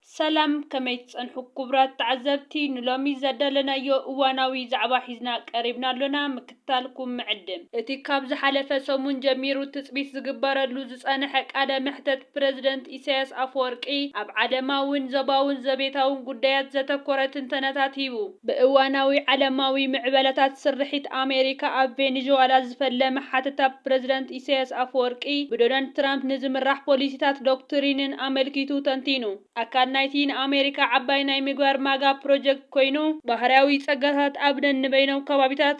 ሰላም ከመይ ትጸንሑ ኩቡራት ተዓዘብቲ ንሎሚ ዘዳለናዮ እዋናዊ ዛዕባ ሒዝና ቀሪብና ኣሎና ምክትታልኩም ንዕድም። እቲ ካብ ዝሓለፈ ሰሙን ጀሚሩ ትጽቢት ዝግበረሉ ዝጸነሐ ቃለ መሕተት ፕረዚደንት ኢሳያስ ኣፈወርቂ ኣብ ዓለማዊን ዞባውን ዘቤታውን ጉዳያት ዘተኮረ ትንተናታት ሂቡ። ብእዋናዊ ዓለማዊ ምዕበለታት ስርሒት ኣሜሪካ ኣብ ቬኒዙዋላ ዝፈለመ ሓተታ ብፕረዚደንት ኢሳይያስ ኣፈወርቂ ብዶናልድ ትራምፕ ንዝምራሕ ፖሊሲታት ዶክትሪንን ኣመልኪቱ ተንቲኑ። ኣካል ናይቲ ንኣሜሪካ ዓባይ ናይ ምግባር ማጋ ፕሮጀክት ኮይኑ፣ ባህርያዊ ጸጋታት ኣብ ነንበይኖም ከባቢታት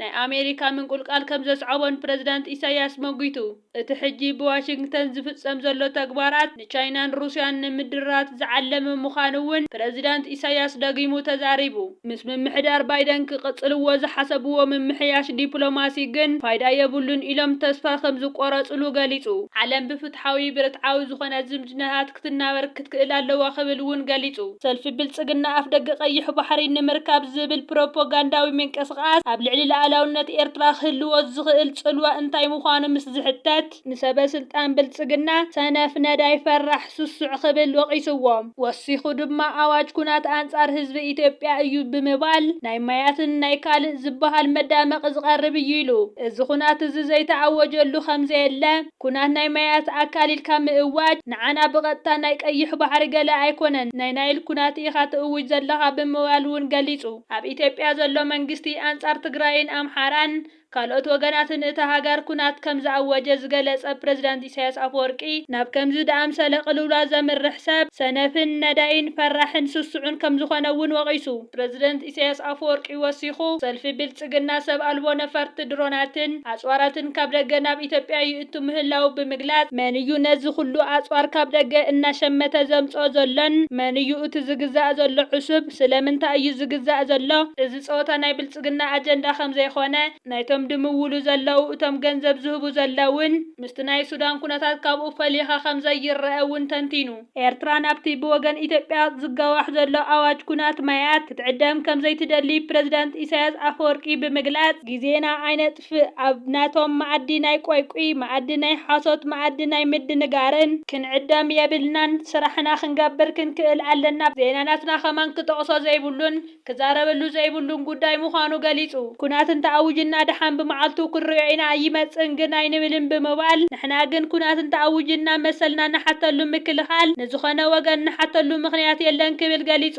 ናይ ኣሜሪካ ምንቁልቃል ከም ዘስዓቦን ፕረዚዳንት ኢሳይያስ መጒቱ። እቲ ሕጂ ብዋሽንግተን ዝፍጸም ዘሎ ተግባራት ንቻይናን ሩስያን ንምድራት ዝዓለመ ምዃኑ'ውን ፕረዚዳንት ኢሳይያስ ደጊሙ ተዛሪቡ። ምስ ምምሕዳር ባይደን ክቕጽልዎ ዝሓሰብዎ ምምሕያሽ ዲፕሎማሲ ግን ፋይዳ የብሉን ኢሎም ተስፋ ከም ዝቆረጽሉ ገሊጹ። ዓለም ብፍትሓዊ ብርትዓዊ ዝኾነ ዝምድናታት፣ ክትናበር ክትክእል ኣለዋ ክብል እውን ገሊፁ። ሰልፊ ብልፅግና ኣፍደገ ቀይሕ ባሕሪ ንምርካብ ዝብል ፕሮፖጋንዳዊ ምንቅስቓስ ኣብ ልዕሊ ልኣላውነት ኤርትራ ክህልዎ ዝኽእል ፅልዋ እንታይ ምዃኑ ምስ ዝሕተት፣ ንሰበ ስልጣን ብልፅግና ሰነፍ፣ ነዳይ፣ ፈራሕ፣ ስሱዕ ክብል ወቒስዎም። ወሲኹ ድማ ኣዋጅ ኩናት ኣንፃር ህዝቢ ኢትዮጵያ እዩ ብምባል ናይ ማያትን ናይ ካልእ ዝበሃል መዳመቒ ዝቐርብ እዩ ኢሉ። እዚ ኩናት እዚ ዘይተኣወጀሉ ከምዘየለ፣ ኩናት ናይ ማያት ኣካል ኢልካ ምእዋጅ ንዓና ብቐጥታ ናይ ቀይሕ ባሕሪ ገለ ኣይኮነን ናይ ናይል ኩናት ኢኻ ትእውጅ ዘለኻ ብምባል ውን ገሊጹ። ኣብ ኢትዮጵያ ዘሎ መንግስቲ ኣንጻር ትግራይን ኣምሓራን ካልኦት ወገናትን እታ ሃገር ኩናት ከም ዝኣወጀ ዝገለጸ ፕረዚዳንት ኢሳያስ ኣፈወርቂ ናብ ከምዚ ድኣምሰለ ቅልውላው ዘምርሕ ሰብ ሰነፍን ነዳይን ፈራሕን ስሱዕን ከም ዝኾነ ውን ወቒሱ። ፕረዚደንት ኢሳይያስ ኣፈወርቂ ወሲኹ፣ ሰልፊ ብልጽግና ሰብ ኣልቦ ነፈርቲ ድሮናትን ኣጽዋራትን ካብ ደገ ናብ ኢትዮጵያ ይእቱ ምህላዉ ብምግላጽ፣ መን እዩ ነዚ ኹሉ ኣጽዋር ካብ ደገ እናሸመተ ዘምጽኦ ዘሎን መን እዩ እቲ ዝግዛእ ዘሎ ዕሱብ? ስለምንታይ እዩ ዝግዛእ ዘሎ? እዚ ጸወታ ናይ ብልጽግና ኣጀንዳ ከም ዘይኮነ፣ ናይቶም ድምውሉ ዘለዉ እቶም ገንዘብ ዝህቡ ዘለዉን ምስቲ ናይ ሱዳን ኩነታት ካብኡ ፈሊኻ ከም ዘይረኣ እውን ተንቲኑ። ኤርትራ ናብቲ ብወገን ኢትዮጵያ ዝጋዋሕ ዘሎ ኣዋጅ ኩናት ማያት ክትዕደም ከምዘይትደሊ ፕረዚደንት ኢሳያስ ኣፈወርቂ ብምግላጽ፣ ግዜና ኣይነጥፍእ፣ ኣብ ናቶም መኣዲ ናይ ቆይቊይ፣ መኣዲ ናይ ሓሶት፣ መኣዲ ናይ ምድንጋርን ክንዕደም የብልናን፣ ስራሕና ክንገብር ክንክእል ኣለና፣ ዜና ናትና ከማን ክጠቕሶ ዘይብሉን፣ ክዛረበሉ ዘይብሉን ጉዳይ ምዃኑ ገሊጹ። ኩናት እንተኣውጅና ደሓን ብመዓልቱ ክንሪኦ ኢና ኣይመጽእን ግን ኣይንብልን ብምባል ንሕና ግን ኩናት እንተኣውጅና መሰልና ንሓተሉ ምክልኻል ንዝኾነ ወገን ንሓተሉ ምኽንያት የለን ክብል ገሊጹ።